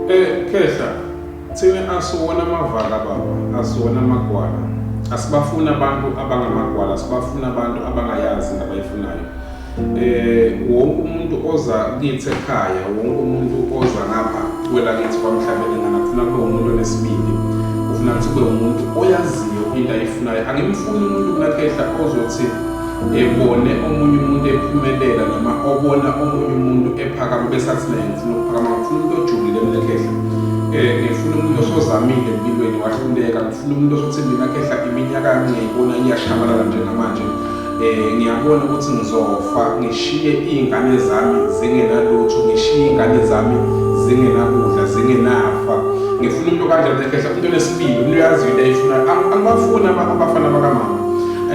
Eh Khehla, thina asiwona amavaka baba, asiwona amagwala. Asibafuni abantu abangamagwala, sibafuna abantu abangayazi into abayifunayo. Eh wonke umuntu oza kithi ekhaya, wonke umuntu oza ngapha kwelakithi kwamhlabeni ngana kufuna kube umuntu onesibindi. Ufuna ukuthi kube umuntu oyaziyo into ayifunayo. Angimfuni umuntu kunakhehla ozothi ebone omunye umuntu ephumelela noma obona omunye umuntu ephakama bese athi naye ngifuna ukuphakama ngifuna umuntu ojulile mina khehla um eh, ngifuna umuntu osozamile empilweni wahluleka ngifuna umuntu osothi mina khehla iminyaka yami ngiyayibona iyashabalala njengamanje um ngiyabona ukuthi ngizofa ngishiye iy'ngane zami zingenalutho ngishiye iy'ngane zami zingenakudla zingenafa ngifuna umuntu kanjani ekhehla umuntu onesibili umuntu uyaziyo into ayifuna angibafuni abafana bakamama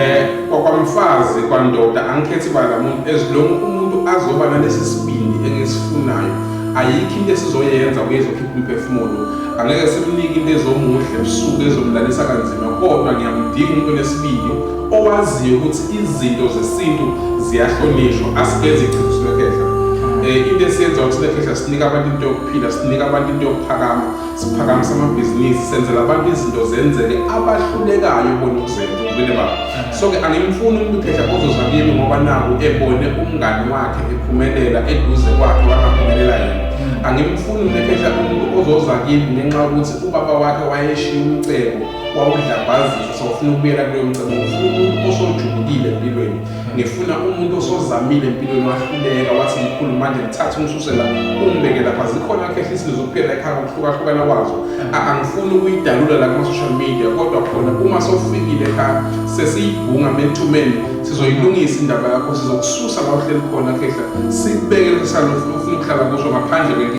um kwakwamfazi kwandoda angikhethi bala muntu as long umuntu azoba nalesi sibindi engisifunayo ayikho into esizoyenza kuyezokhipha umphefumulo angeke simnike into ezomuhle ebusuku ezomlalisa kanzima kodwa ngiyamdinga umuntu onesibindi owaziyo ukuthi izinto zesintu ziyahlonishwa asikenzi ichitho sinekhehla um eh, into esiyenza ukuthi sinekhehla sinika abantu into yokuphila sinika abantu into yokuphakama siphakamisa amabhizinisi senzela abantu izinto zenzeke abahlulekayo bona ukuzenza ubile baba so-ke angimfuni umuntu ukhehla kozoza kimi ngoba naku ebone umngani wakhe ephumelela eduze kwakhe wangaphumelela yena hmm. angimfuni umuntu ekhehla umuntu ozoza kimi ngenxa yokuthi ubaba wakhe wayeshiya umcebo wawudlambazisa sofuna ukubuyela kuleyo mcebo ngifuna umuntu osojulukile empilweni ngifuna umuntu osozamile empilweni wahluleka wathi mkhulu manje ngithathe umsuse la umbeke lapha zikhona kahle izinto zokuphela ekhaya ngokuhlukahlukana kwazo angifuni ukuyidalula la kuma-social media kodwa khona uma sowufikile ekhaya sesiyibhunga methumeni sizoyilungisa indaba yakho sizokususa la uhleli khona khehla sikubeke leso salo ufuna ukuhlala kuso ngaphandle